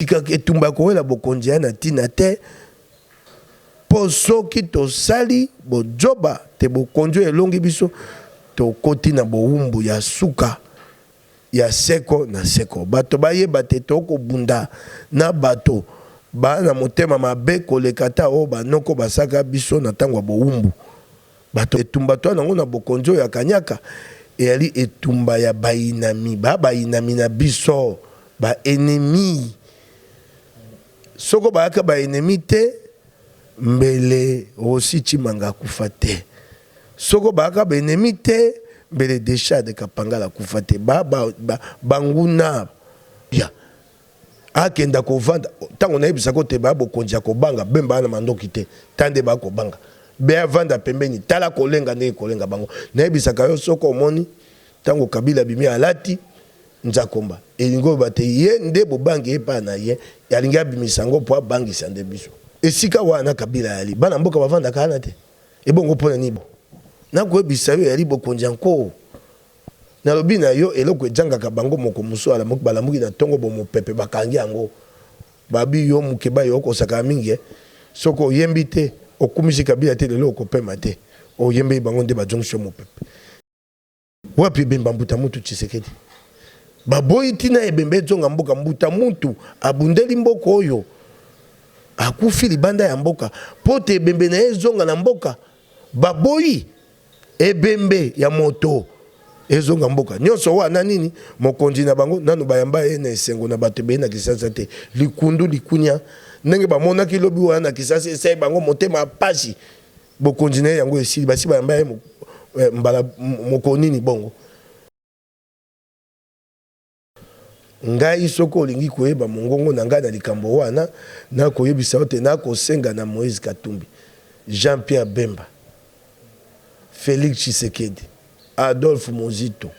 Tika etumba ya kowela bokonzi eya na ntina te, mpo soki tosali bozoba te bokonzi oyo elongi biso, tokoti na bowumbu ya suka ya seko na seko. Bato bayeba te tokobunda na bato ba na motema mabe koleka ata oyo banoko basaka biso na ntango ya bowumbu. Bato etumba toa nango na bokonzi oyo ya kanyaka eyali etumba ya bayinami ba bayinami na biso ba ennemis soko bayaka ba ennemis te mbele Rossy Tshimanga akufa te soko bayaka ba ennemis te mbele Dechade Kapangala akufa te ba ba ba banguna ya Akenda kovanda tango nayebisa ko te ba bokonzi ya kobanga bemba wana mandoki te tande ba kobanga be avanda pembeni tala kolenga ndenge kolenga bango nayebisaka yo soko omoni tango kabila abimi alati nzakomba elingi oloba te ye nde bobangi epa na ye alingi abimisa yango mpo abangisa nde biso esika wana kabila yali bana mboka bavandaka wana te ebongo mpo na nini nakoyebisa yo yali bokonzi ya nkoo Nalobi na yo, eloko ejangaka bango moko mosusu alamuki, balamuki na tongo bo mopepe, bakangi yango. Babi yo mukeba yo oko sakana mingi eh. Soki oyembi te, okumisi Kabila te lelo oko pema te. Oyembeli bango nde bajongisi yo mopepe. Wapi ebemba mbuta muntu tshisekedi baboyi tina ebemba ezonga mboka mbuta muntu abundeli mboka oyo akufi libanda ya mboka pote ebembe naye ezonga na mboka baboyi. Ebembe ya moto ezonga mboka. Nionso wana nini? Mokonzi na bango nanu bayamba ye na esengo na bato ebele na Kinshasa te. Likundu, likunia ndenge bamonaki lobi wana na Kinshasa esali bango motema pasi. Bokonzi na ye yango esili? Basi bayamba ye mbala moko nini bongo? Ngai, soki olingi koyeba mongongo na ngai na likambo wana, nakoyebisa yo te nakosenga na Moïse Katumbi, Jean-Pierre Bemba, Felix Tshisekedi, Adolphe Muzito,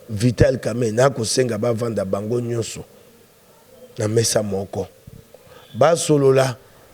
Vital Kamerhe, nakosenga bavanda bango nionso na mesa moko, basolola.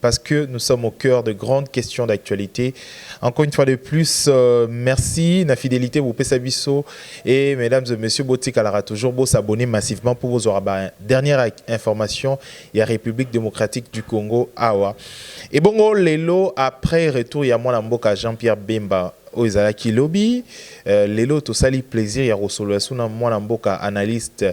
parce que nous sommes au cœur de grandes questions d'actualité. Encore une fois de plus, euh, merci na fidélité vous pesa biso et mesdames et messieurs botikalaka toujours beau s'abonner massivement pour vous avoir ba dernière information ya République démocratique du Congo awa. Et bongo lelo après retour ya mwana mboka Jean-Pierre Bemba oyo ezalaki lobi euh, lelo tosali plaisir ya kosolola suna mwana mboka analyste euh,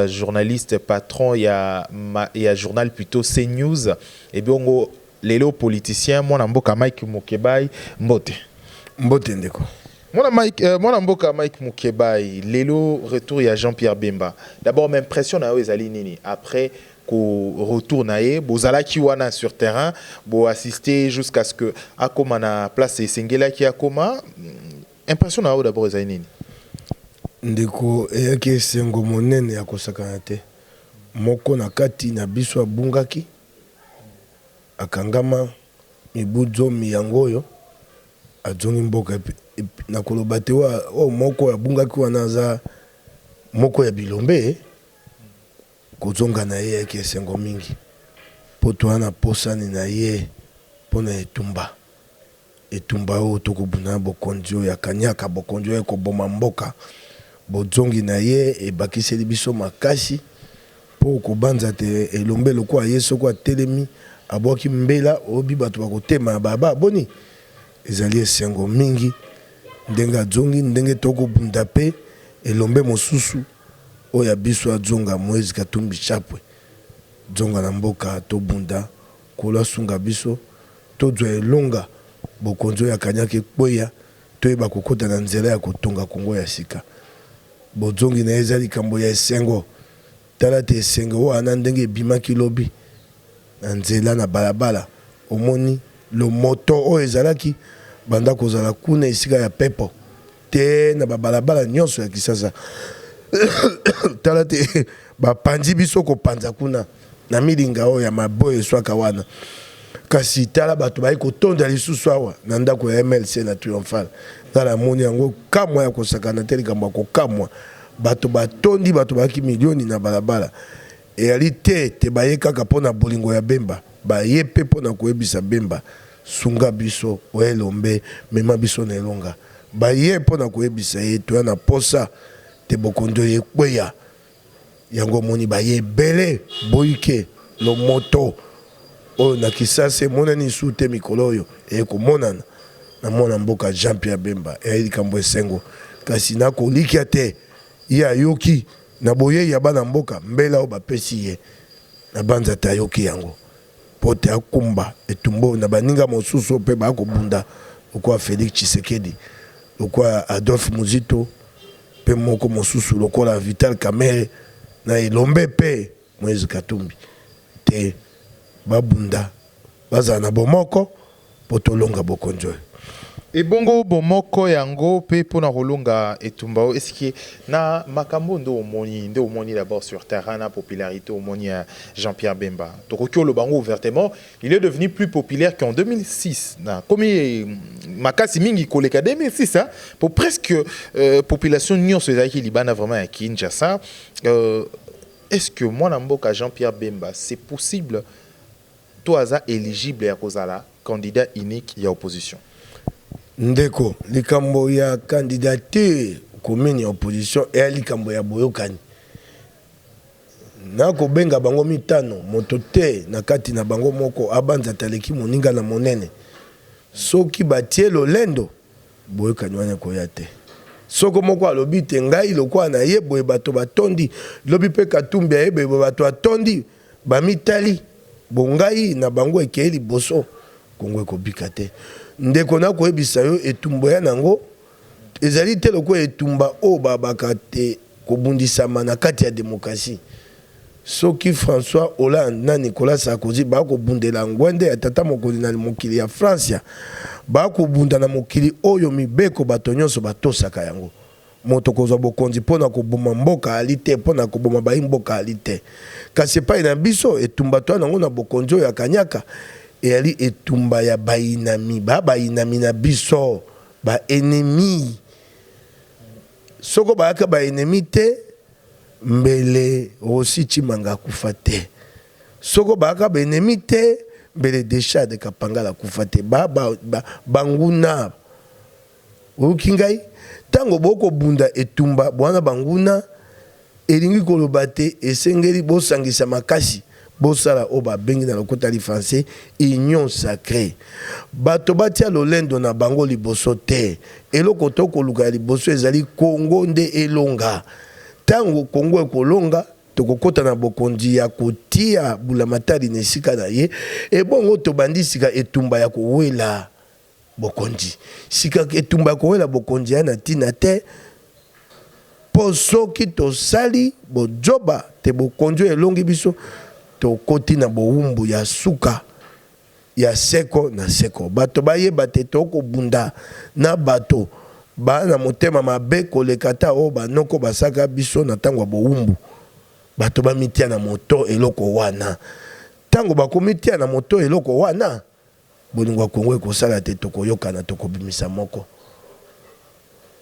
Journaliste patron ya ma ya journal plutot ce news ebongo Lelo politicien mwana mboka Mike mukebayi mbote. Mbote ndeko. Mwana Mike euh mwana mboka Mike mukebayi Lelo retour ya Jean Pierre Bemba d'abord ma impression na yo ezali nini après ko retour na ye bozalaki wana sur terrain bo assister jusqu'à ce que akoma na place esengelaki akoma Impression na yo d'abord ezali nini? Ndeko, eyaki esengo monene ya kosakana te. Moko na kati na biso abungaki, akangama mibu zomi yango oyo, azongi mboka. Na koloba te oyo moko oyo abungaki wana aza moko ya bilombe, Kozonga na ye eyaki esengo mingi mpo toya na posani na ye mpo na etumba. Etumba oyo tokobunda na bokonzi oyo ya kaniaka, bokonzi oyo ekoboma mboka. Bozongi na ye ebakiseli biso makasi mpo kobanza te elombe lokola ye soko atelemi abwaki mbela oyobi bato bakotema ya baba boni? Ezali esengo mingi ndenge azongi, ndenge tokobunda mpe elombe mosusu. Oyo ya biso adzonga moise katumbi chapwe dzonga na mboka tobunda nkolo asunga biso todzwa elonga bokonzi oyo ya kanyaka ekweya toyeba kokota na nzela ya kotonga congo ya sika bodzongi naye eza likambo ya esengo tala te esengo wana ndenge ebimaki lobi na nzela na balabala omoni lomoto oyo ezalaki banda kozala kuna esika ya pepo Te na ba balabala nionso ya Kisasa tala te ba panzi biso ko panza kuna na milinga oyo ya maboyo eswaka wana kasi tala bato baye kotonda lisusu awa na ndako ya MLC na Triomphal nga namoni yango kamwa ya kosakana te likambo ya kokamwa bato batondi bato bayaki milioni na balabala Eyali te ete baye kaka mpo na bolingo ya Bemba, baye mpe mpo na koyebisa Bemba, Sunga biso, o elombe, mema biso na elonga. Baye mpo na koyebisa ye, Toya na mposa te bokonzi oyo ekweya. Yango omoni baye ebele boyike lo moto oyo na Kisasa emonani lisusu te mikolo oyo eye komonana na mwana mboka Jean-Pierre Bemba. Eyali likambo ya esengo, kasi na kolikia te ye ayoki. Na boyei ya bana mboka, mbela oyo bapesi ye na Banza te ayoki yango mpo te akumba etumba oyo na baninga mosusu oyo mpe baya kobunda lokola Felix Tshisekedi, lokola Adolphe Muzito mpe moko mosusu lokola Vital Kamerhe na Elombe mpe Moise Katumbi te. Babunda, bazala na bomoko. Mpo tolonga bokonzi oyo. Ebongo bomoko yango pe pona kolonga etumba oyo est ce que na makambo oyo nde omoni nde omoni d'abord sur terrain na popularite omoni ya Jean Pierre Bemba tokoki oloba yango ouvertement il est devenu plus populaire que en 2006 na akomi makasi mingi koleka 2006 hein po presque population nionso ezalaki libanda vraiment ya Kinshasa est ce que mwana mboka Jean Pierre Bemba c'est possible to aza eligible ya kozala candidat unique ya opposition? Ndeko, likambo ya candidature commune ya opposition eya likambo ya boyokani na kobenga bango mitano. Moto te na kati na bango moko abanzi ata aleki moninga na monene. Soki batie lolendo, boyokani wana ekoya te. Soko moko alobi te ngai lokola naye boye bato batondi, lobi pe Katumbi aye boye bato batondi. Bamitali bo ngai na bango ekei liboso Congo ekobika te ndeko nako yebisa yo etumbo ya nango ezali te lokola etumba oyo ba baka te kobundisama na kati ya democratie soki François Hollande na Nicolas Sarkozy ba kobundela ngwende ya tata mokonzi na mokili ya Francia ba kobunda na mokili oyo mibeko bato nionso batosaka yango. Moto kozwa bokonzi mpo na koboma mboka aali te, mpo na koboma bayi mboka aali te. Kasi epai na biso, etumba toya nango na bokonzi oyo ya kanyaka eyali etumba ya bayinami, ba bayinami na biso, ba ennemis. Soko bayaka ba ennemis te, mbele Rossy Tshimanga akufa te. Soko bayaka ba ennemis te, mbele Dechade Kapangala akufa te. Ba, ba, ba, banguna. Oyoki ngai? Ntango bokobunda etumba bwana banguna, elingi koloba te esengeli bosangisa makasi bosala oyo babengi na lokota li français union sacree. Bato batia lolendo na bango liboso te. Eloko to koluka ya liboso ezali Congo nde elonga. Ntango Congo ekolonga, tokokota na bokonzi ya kotia bulamatali na esika na ye, ebongo tobandi sika etumba ya kowela. Bokonzi. Sika, etumba ya kowela Bokonzi eya na tina te, po soki tosali bozoba te Bokonzi oyo elongi biso, tokoti na bowumbu ya suka ya seko na seko. Bato bayeba te tokoki kobunda na bato ba na motema mabe koleka ata oyo banoko basalaka biso na tango ya bowumbu. Bato bamitia na moto eloko wana tango bakomitia na moto eloko wana. Bolingo ya Congo ekosala te tokoyokana tokobimisa moko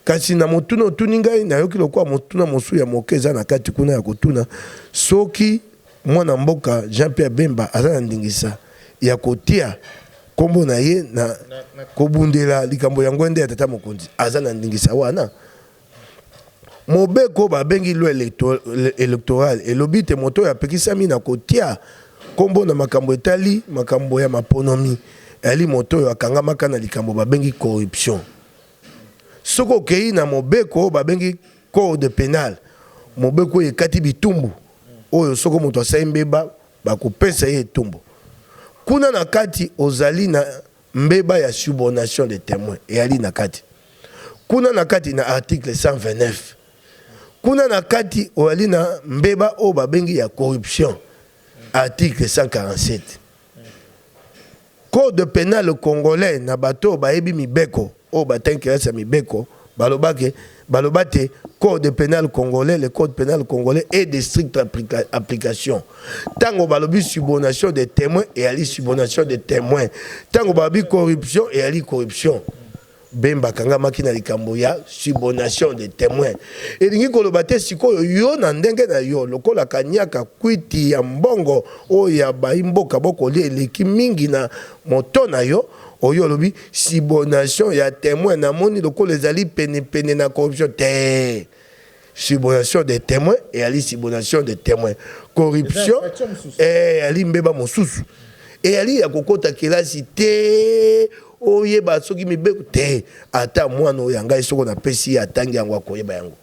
kasi na motuna otuni ngai nayoki lokola motuna mosusu ya moke eza na kati kuna ya kotuna soki mwana mboka Jean Pierre Bemba aza na ndingisa ya kotia kombo na ye na kobundela likambo ya ngwende ya tata mokonzi aza na ndingisa wana Mobeko oyo babengi loi electorale elobi te moto oyo apekisami na kotia kombo na makambo etali makambo ya maponomi eyali moto oyo akangamaka na likambo babengi corruption. Soki okeyi na mobeko oyo babengi code penal, mobeko oyo ekati bitumbu oyo soko moto asali mbeba bakopesa ye etumbu. Kuna na kati ozali na. Mbeba ya subornation des temoins eali na kati kuna na kati na article 129. Kuna na kati oali na mbeba oyo babengi ya corruption article 147. Code penal congolais na bato oyo bayebi mibeko. Oyo bateki kelasi ya mibeko baloba ke baloba te code penal congolais le code penal congolais est de stricte application tango balobi subonation de temoin eyali subonation de temoin tango balobi corruption eyali corruption Bemba akangamaki na likambo ya subonation de temoin elingi koloba te sikoyo yo na ndenge na yo lokola kanyaka kwiti ya mbongo oyo ya bayi mboka bokolia eleki mingi na Moto na yo oyo olobi subonation ya temoin na moni lokola ezali pene pene na corruption tee subonation de temoin eyali subonation de temoin corruption eyali mbeba mosusu eyali ya kokota kelasi tee oyeba soki mibeko tee ata mwana oyo ya ngai soko napesi ye atangi yango akoyeba yango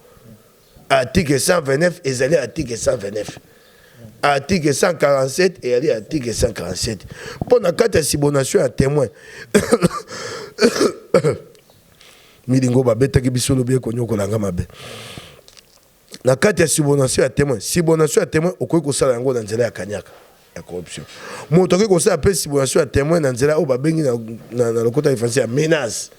Article 129 ezali article 129. Article 147 ezali article 147. Mpo na kati ya subordination ya temoin milingo babetaki biso lobi ekonyokola nga mabe na kati ya subordination ya temoin subordination ya temoin okoki kosala yango na nzela ya kanyaka ya corruption moto akoki kosala mpe simulation ya temoin na nzela oyo babengi na, na, na lokota ya français ya menace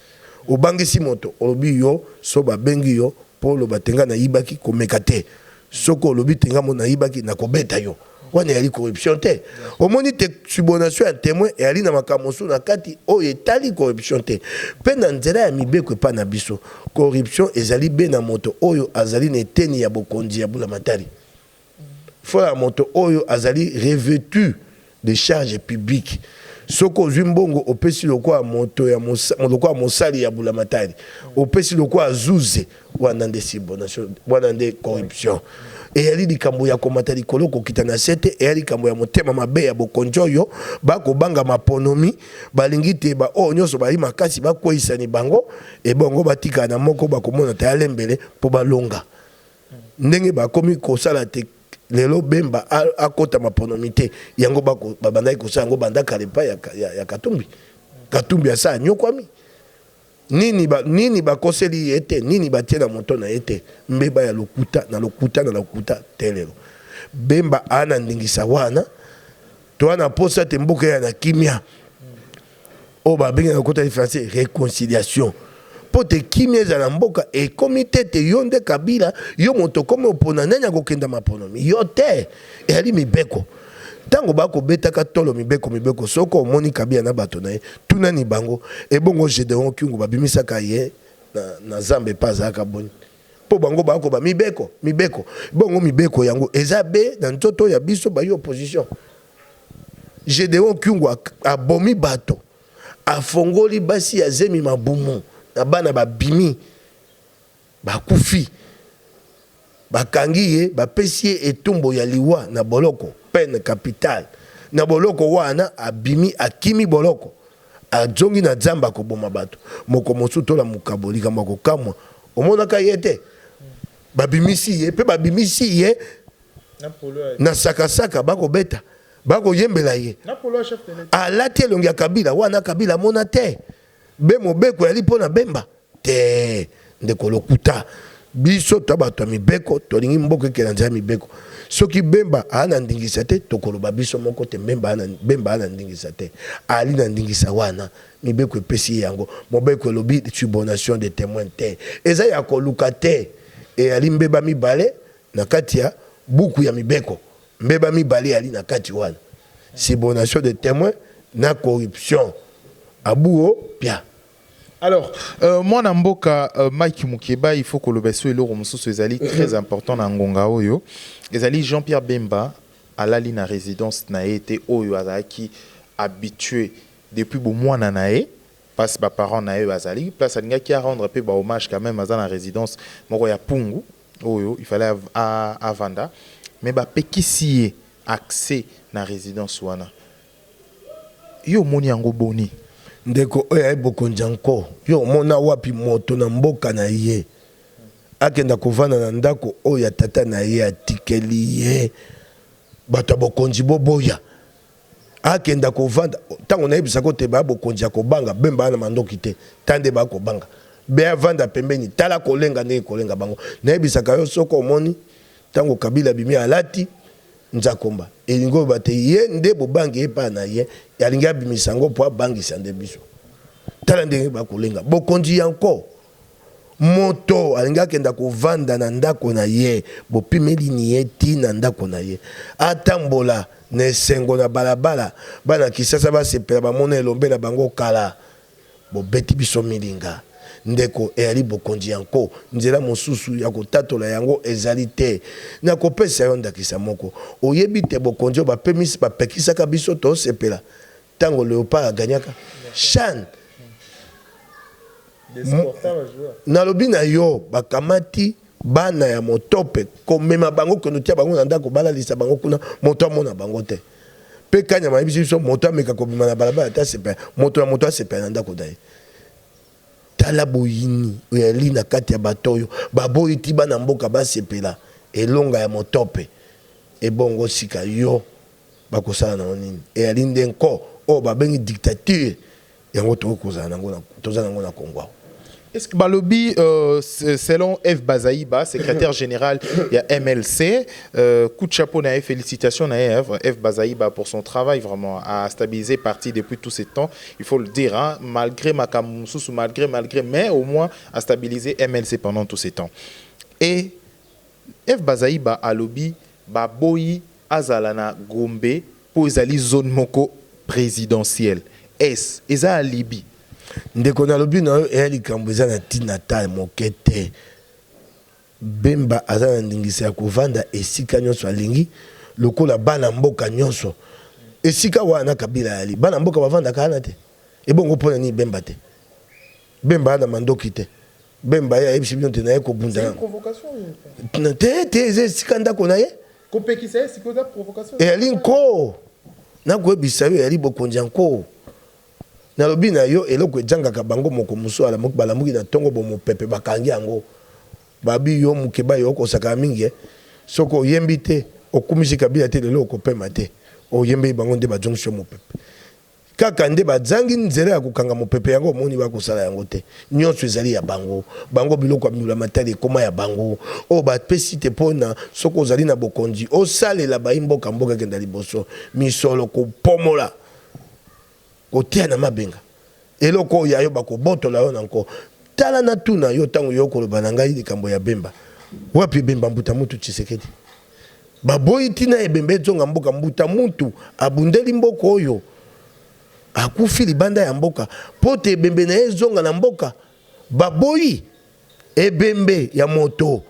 obangisi moto olobi yo so babengi yo mpo oloba te nga nayibaki komeka te soki olobi te nga mo nayibaki nakobeta yo wana eyali corruption te omoni te subordination ya temoin eyali na makambo mosusu na kati oyo etali corruption te mpe na nzela ya mibeko epai na biso corruption ezali be na moto oyo azali na eteni ya bokonzi ya bulamatari Foi ya moto oyo azali revetu de charge publique. Soki ozui mbongo opesi lokola moto ya lokola mosali ya bulamatari, opesi lokola zuze, wana nde subonation, wana nde corruption. Eyali likambo ya komata likolo kokita na se te, eyali likambo ya motema mabe ya bokonzi oyo ba kobanga maponomi, balingi te ba oyo nionso bazali makasi bakweyisani bango, ebongo batikala na moko bakomona ta ya lembele mpo balonga. ndenge ba komi ko sala te lelo bemba akota maponomi te yango ba bandaki ko sala yango banda kala epai ya katumbi katumbi asa anyokwami nini ba nini ba koseli ye te nini ba tie na moto na ye te mbeba ya lokuta na lokuta na lokuta te lelo bemba ana ndingisa wana to ana posa te mboka ya na kimia oyo babengi na lokota ya français reconciliation mpo te kimia ezala na mboka ekomi te te yo nde kabila yo moto okomi opona nani akokenda maponomi yo te eyali mibeko ntango bakobetaka tolo mibeko mibeko soko omoni kabila na bato na ye tunani bango ebongo gedeon kiungu babimisaka ye na, na zamba epa azalaka boni mpo bango bakoba mibeko mibeko bongo mibeko yango eza be na nzoto ya biso bayi opposition Gedeon Kyungu abomi bato, afongoli basi ya zemi mabumu na bana babimi bakufi, bakangi ye bapesi ye etumbo ya liwa na boloko, peine capitale, na boloko waana abimi akimi boloko azongi na zamba koboma bato, mokomosusu tola mokabo likambo ya kokamwa omonaka ye te? babimisi ye pe babimisi ye na sakasaka bakobeta bakoyembela ye alati elongi ya kabila wana kabila amona te be mobeko yali mpo na bemba te ndeko lokuta biso to bato ya mibeko tolingi mboka ekela nzela ya mibeko soki bemba aa na ndingisa te tokoloba biso moko te bemba aa na ndingisa te ali na ndingisa wana mibeko epesi ye yango mobeko elobi subordination de témoin te eza ya koluka te eyali mbeba mibale Na kati ya Buku ya Mibeko, mbeba mibale eyali na kati wana, subornation des temoins na corruption a buo pia. Alors, mwana mboka Mike Mukeba, il faut koloba esso eloko mosusu ezali très important na ngonga oyo, ezali Jean-Pierre Bemba alali na residence na ye te oyo azalaki habitue depuis bomwana na ye, place ba parents na ye bazali, place alingaki a rendre mpe ba hommages quand meme, aza na residence moko ya Pungu, oyo il fallait a vanda mais ba pekisi ye accès na residence wana yo omoni yango boni? Ndeko oyo aye bokonzi ya nko yo omona wapi moto na mboka na ye akenda kovanda na ndako oyo ya tata na ye atikeli ye? Bato ya bokonzi boboya. akenda kovanda ntango nayebisa ko te baya bokonzi ya kobanga bemba ya na mandoki te ta nde baya kobanga beya vanda pembeni tala kolenga ndenge kolenga bango nayebisaka yo soko omoni ntango kabila bimi alati nzakomba elingi oyo bate ye nde bobangi ye epai na ye alingi abimisa yango mpo abangisa nde biso tala ndenge bakolenga bokonzi yanko Moto alingi akenda kovanda na ndako na ye, bopimeli nie tii na ndako na ye. Atambola na esengo na balabala, bana kisasa basepela bamona elombe na bango kala. Bobeti biso milinga, ndeko, eyali bokonzi ya nko. Nzela mosusu ya kotatola yango ezali te. Nakopesa yo ndakisa moko. Oyebi te bokonzi oyo bapemisi, bapekisaka biso tosepela? Tango leopard a gagnaka chan nalobi na yo bakamati bana ya motope komema bango konotia bango na ndako balalisa bango kuna moto amona bango te mpe kanyama ayebisi biso moto ameka kobima na balabala ata asepela moto ya moto asepela na ndako na ye tala boyini oyali na kati ya bato oyo baboyi ti bana mboka basepela elonga ya motope ebongo sika yo Bakosala na yango nini? Eyali nde nko oyo babengi dictature yango tokoki kozala nango na toza nango na Congo awa. Balobi selon Eve Bazaiba secretaire general ya mlc coup de chapeau na ye felicitations na ye Eve Bazaiba pour son travail vraiment a stabiliser partie depuis tout ce temps il faut le dire malgre makambo mosusu malgre malgre mais au moins a stabiliser mlc pendant tout ce temps et Eve Bazaiba alobi baboyi azala na Gombe mpo ezali zone moko presidentielle. Est-ce eza alibi? Ndeko nalobi na yo eya likambo eza na tina ata moke te. Bemba aza na ndingisa ya kovanda esika nionso alingi lokola bana mboka nionso. Esika wana Kabila ayali bana mboka bavandaka wana te? Ebongo pona nini Bemba te? Bemba aza mandoki te. Bemba ye ayebisi bino te naye kobunda. Te te eza esika ndako na ye. Kopekisa ye sikoyo eza provocation. Eyali nkoo. Nakoyebisa yo eyali bokonzi ya nkoo. Nalobi na yo eloko ejangaka bango moko mosusu alamuki balamuki na ntongo bomopepe bakangi yango. Babi yo mukeba yo okosaka mingi eh. Soki oyembi te okumisi kabila te lelo okopema te. Oyembeli bango nde bazongisi yo mopepe. Kaka nde bazangi nzela ya kokanga mopepe yango omoni ba kosala yango te nionso ezali ya bango bango biloko ya mbula matari ekoma ya bango oyo ba pesi te po na soki ozali na bokonzi osalela bayi mboka mboka ekenda liboso misolo kopomola kotia na mabenga eloko oyo yayo bakobotola yo na nko tala na tuna yo tango yo koloba na ngai likambo ya bemba wapi bemba mbuta mutu tshisekedi Baboyi tina ebembe edzonga mboka mbuta mutu abundeli mboka oyo akufi libanda ya mboka pote ebembe naye ezonga na mboka baboyi ebembe ya moto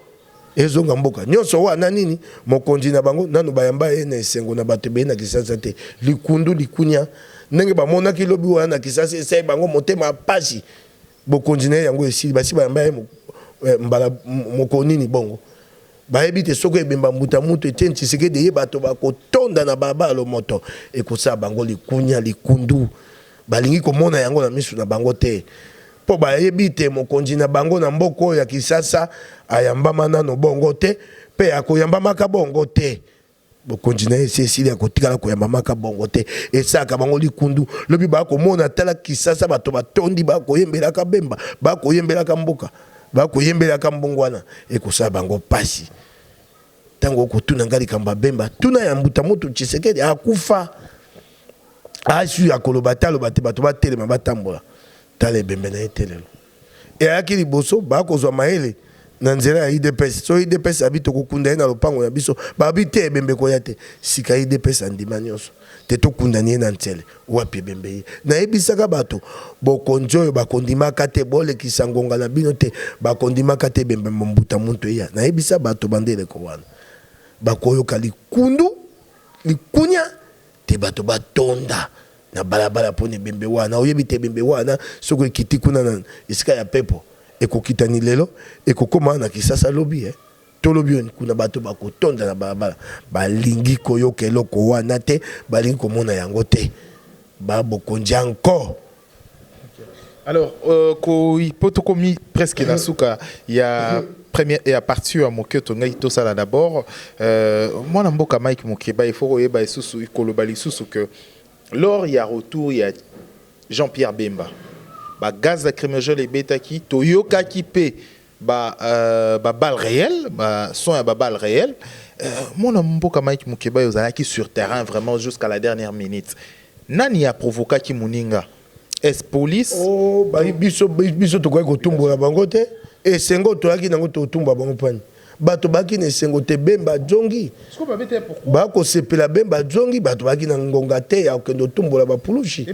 ezonga mboka nionso wa na nini mokonzi na bango nanu bayamba ye na esengo na bato ebele na kisasa te likundu likunia ndenge bamonaki lobi wana na kisasa esai bango motema pasi Bokonzi na ye yango esili? Basi bayamba ye eh, mbala mokolo nini bongo? bayebi te soko ebemba mbuta mutu Etienne Tshisekedi ye bato bakotonda na balabala lomoto ekosala bango likunya likundu balingi komona yango na misu na bango te mpo bayebi te mokonzi na bango na mboka oyo ya Kisasa ayambama nano bongo te mpe akoyambamaka bongo te bokonzi na ye esi esili ya kotikala koyambamaka bongo te esalaka bango likundu lobi bakomona tala kisasa bato batondi bakoyembelaka bemba bakoyembelaka mboka bakoyembelaka mbongwana ekosala bango mpasi ntango okotuna ngai likambo ya bemba tuna ya mbuta moto tshisekedi akufa asui akoloba te aloba te bato batelema batambola tala ebembe na ye te lelo et ayaki liboso ba kozua mayele na nzela ya udps soki udps abi tokokunda ye na lopango na biso balobi te ebembe koya te sika udps andima nionso te tokundani ye na nsele wapi ebembe ye nayebisaka bato bokonzi oyo bakondimaka te bolekisa ngonga na bino te bakondimaka te ebembe mbuta muntu eya nayebisa bato bandeleko wana bakoyoka likundu likunya te bato batonda na balabala pona ebembe wana oyebi te ebembe wana soki ekiti kuna na esika ya pepo ekokitani lelo ekokoma na kisasa lobi eh tolobi oni kuna bato bakotonda na balabala balingi koyoka eloko wana te balingi komona yango te ba bokonzi encore Alors, euh, ko, po tokomi presque na suka ya première ya partie ya mokioto ngai tosala d'abord euh, mwana mboka Mike Mukeba il faut koyeba lisusu koloba lisusu que Lors ya retour ya Jean Pierre Bemba, ba gaz lacrymogènes ebetaki, toyokaki mpe ba balles reelles, ba sons ya ba balles reelles. Mwana mboka Mike Mukebayi, ozalaki sur terrain vraiment jusqu'à la dernière minute. Nani a provokaki moninga? es police oh, bayi biso biso tokoki kotumbola bango te esengo toyaki nango totumba bango pani bato baki na esengo te bemba ajongi bakosepela bemba ajongi bato baki na ngonga te ya kokende otumbola bapulushi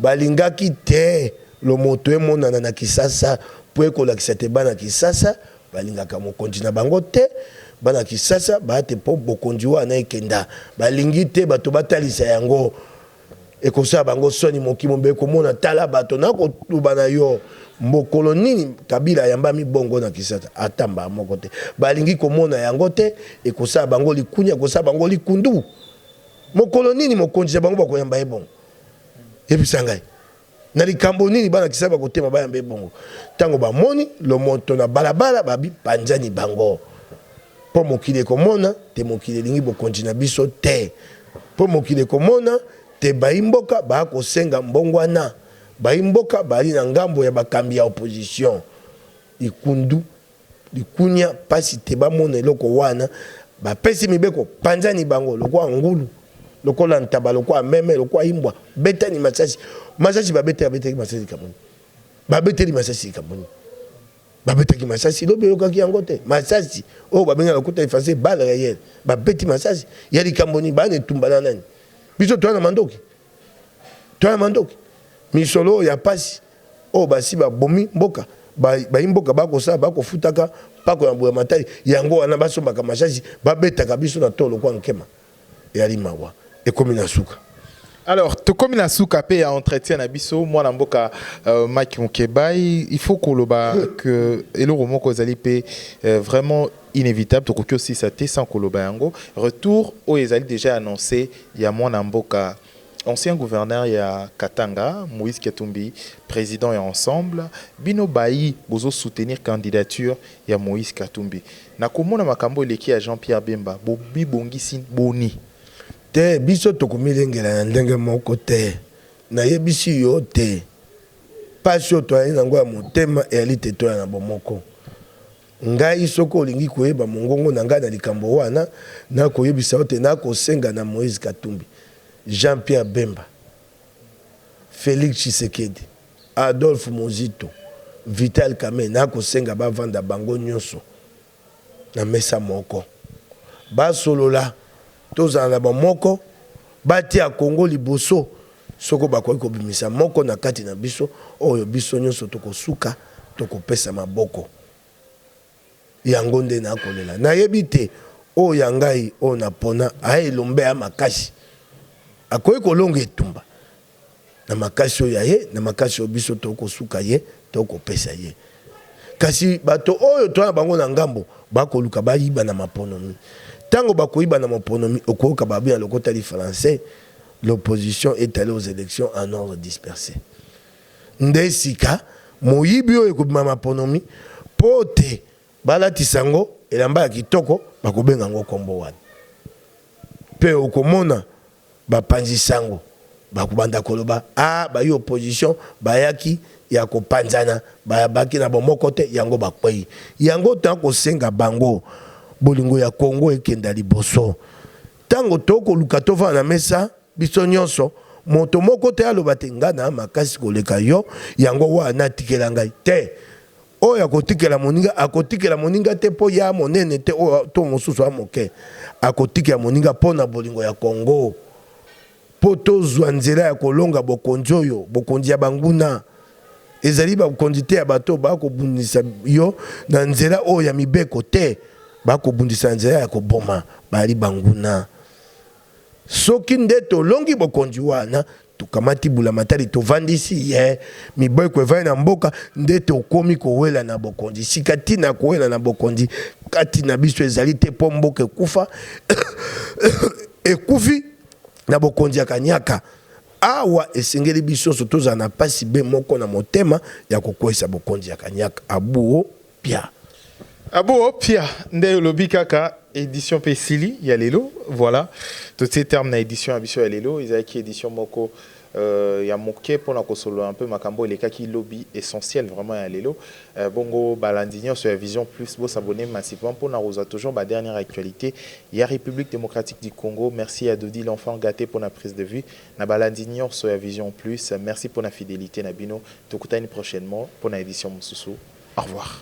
balingaki te lomoto emonana na kisasa mpo ekolakisa te bana kisasa balingaka mokonzi na bango te bana kisasa baate mpo bokonzi wana ekenda balingi te bato batalisa yango Ekosala bango soni moki mobee komona tala bato na koloba na yo mbokolo nini kabila ayambami bongo na kisasa ata mbaa moko te balingi komona yango te ekosala bango likunia ekosala bango likundu mokolo nini mokonzi na bango bakoyamba ye bongo yebisa ngai Na likambo nini bana Kisai bakotema bayamba ye bongo? Ntango bamoni lomoto na balabala, babipanzani bango. Mpo mokili ekomona te mokili elingi bokonzi na biso te. Mpo mokili ekomona te bayi mboka baya kosenga mbongwana. Bayi mboka bayali na ngambo ya bakambi ya opposition. Ikundu. Likunia pasi te ba mona eloko wana ba pesi mibeko panzani bango lokwa ngulu lokola ntaba lokwa meme lokwa imbwa betani masasi masasi ba beta beta masasi kamoni ba beteli masasi kamoni ba beta ki masasi lobi yoka ki yango te masasi oh ba benga lokuta efase bal réel ba beti masasi ya likamboni ba ne tumbana nani biso toana mandoki toana mandoki misolo ya pasi Oyo basi ba bomi mboka bayi mboka ba kosala ba kofutaka mpako ya mbulamatari yango wana ba sombaka masasi ba betaka biso na tolo kwa nkema eyali mawa ekomi na suka. Alors tokomi na suka pe ya entretien na biso mwana mboka Mike Mukebayi il faut koloba que eloko moko ezali pe vraiment inevitable tokoki osilisa te sans koloba yango retour oyo ezali dejà annonce ya mwana mboka Ancien gouverneur ya Katanga Moïse Katumbi president ya ensemble bino bayi bozo soutenir candidature ya Moïse Katumbi na komona makambo eleki ya Jean Pierre Bemba bo bibongisi boni? Te biso tokomilengela na ndenge moko te nayebisi yo te pasi oyo toyali na yango ya motema eyali te toya na bomoko. Ngai, soki olingi koyeba mongongo na ngai na likambo wana, nakoyebisa yo te nakosenga na Moïse Katumbi, Jean Pierre Bemba, Felix Tshisekedi, Adolphe Muzito, Vital Kamerhe, nakosenga bavanda bango nyoso na mesa moko, basolola, tozala na bomoko, batia Congo liboso, soko bakoki kobimisa moko na kati na biso oyo biso nyoso tokosuka tokopesa maboko. yango nde na kolela na yebi te oyo ya ngai oyo na pona a elombe ya makasi akoki kolonga etumba na makasi oyo ya ye na makasi oyo biso tokosuka ye tokopesa ye kasi bato oyo toa na bango na ngambo bakoluka bayiba na maponomi ntango bakoyiba na maponomi okoyoka babi ya lokota li français l'opposition est allée aux élections en ordre dispersé Nde sika, moyibi oyo ekobima maponomi, mpo te balatisa yango elamba ya kitoko, bakobenga yango nkombo wana. Mpe okomona bapanzi sango bakobanda koloba, Ah, bayi opposition bayaki ya kopanzana, babaki na bomoko te, yango bakwei. Yango toya kosenga bango, bolingo ya Congo ekenda liboso. Tango tokoluka tofanda na mesa, Biso nyonso, moto moko te aloba te, Ngai na makasi koleka yo, yango wana tikela ngai. Te! Oyo akotikela moninga, akotikela moninga te po ye a monene te to mosusu a moke. Akotikela moninga po na bolingo ya Congo, po tozua nzela ya kolonga bokonzi oyo, bokonzi ya banguna. Ezali bakonzi te ya bato oyo bakobundisa yo na nzela oyo ya mibeko. Te! Bakobundisa na nzela ya koboma. Baali banguna. Soki nde tolongi bokonzi wana, tokamati bulamatari, tovandisi ye, mibeko evandi na mboka, nde tokomi kowelana bokonzi. Sika, ntina ya kowelana bokonzi kati na biso ezali te mpo mboka ekufa, ekufi na bokonzi ya kaniaka. Awa, esengeli biso nyonso tozala na mpasi be moko na motema ya kokweisa bokonzi ya kaniaka. Abuo. Pia. Ah bon Pia nde olobi kaka edition pe esili ya lelo voilà totie terme na edition ya biso ya lelo ezalaki edition moko euh, ya moke mpo na kosolola mpe makambo oyo elekaki lobi essentiel vraiment ya lelo euh, bongo balandi nyonso ya vision plus bosabone massivement mpo na kozwa toujours ba dernière actualité ya république démocratique du congo merci ya dodi l'enfant gâté mpo na prise de vue Na balandi nionso ya Vision plus, merci pona fidelite na bino. Tokutani prochainement pona edition mosusu. Au revoir.